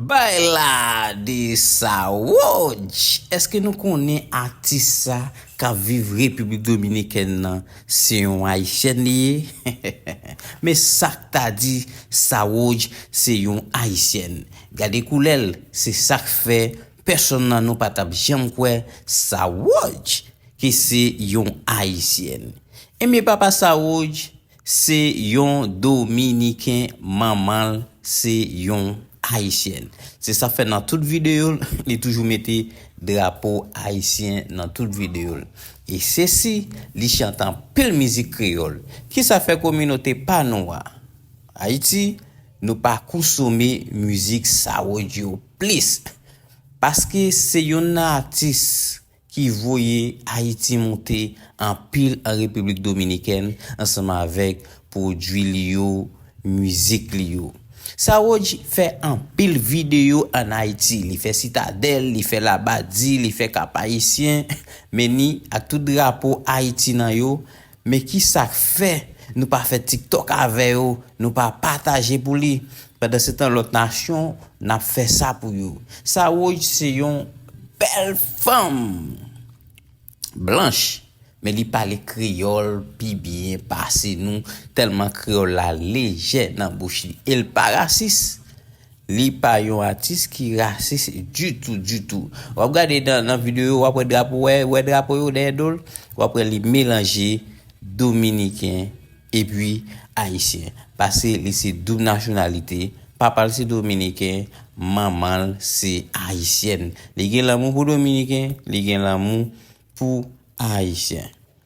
Bay la de sa woojj! Eske nou konnen atis sa kap viv Repiblik Dominikèn nan se yon ayisyèn li ye? Men sak ta di sa woojj se yon ayisyèn. Gade koulè l se sak fè Pèsonn nan nou pa tap janm kwè Saroodj ke se yon ayisyèn. Ebyen papa Saroodj se yon dominiken manmanl se yon ayisyèn. Se sa fè nan tout videol li toujou mete drapo ayisyen nan tout videol. E se si li chante anpil mizik kreyol. Kisa fè kominote pa nou a. Ayiti nou pa konsome mizik sarodyo plis paske se yonn nan atis ki voye ayiti moute anpil an repiblik dominikèn ansanm avèk pwodwi li yo mizik li yo sarodj fè anpil videyo an ayiti li fè sitadèl li fè labadi li fè kapayisyen men ni ak tout drapo ayiti nan yo Men kisak fè nou pa fè tiktok avè yo nou pa pataje pou li pandan se tan lòt nasyon nap fè sa pou yo Saroy se yon bèl fanm blanch men li pale kreyòl pi byen pase nou tèlman kreyòl la lejè nan bouch li el pa rasis Li pa yon atis ki rasis ditou ditou. Wap gade nan video yo wap wè drapo wè drapo yo dèyè dol wap wè li melanje dominiken epi ayisyen pase li se doub nasyonalite papal se dominiken manmanl se ayisyèn li gen lanmou pou dominiken li gen lanmou pou ayisyen.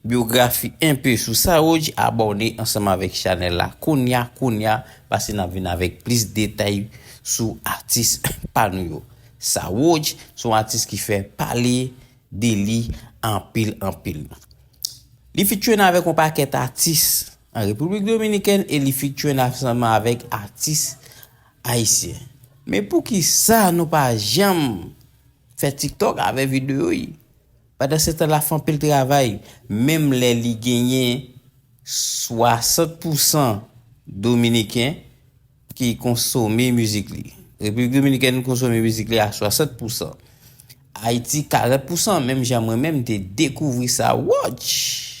Biografi enpe sou Saoudj abòne ansanm avèk chanèl la kounya kounya pase nap vin avèk plis detay sou atis pa nou yo Saoudj son atis ki fè pale de li anpil anpil li fitune avèk yon pakèt atis an repiblik dominikèn e li fitune ansanm avèk atis ayisyen men poukisa nou pa janm fè tiktok avè videyo li. Pandansetan l ap fè anpil travay, menm lè li genyen 60 pousan dominiken ki konsome mizik li. Repiblik Dominikèn konsome mizik li a 60 pousan. Ayiti 40 pousan, menm jan mwen menm te dekouvri sa. Wouch!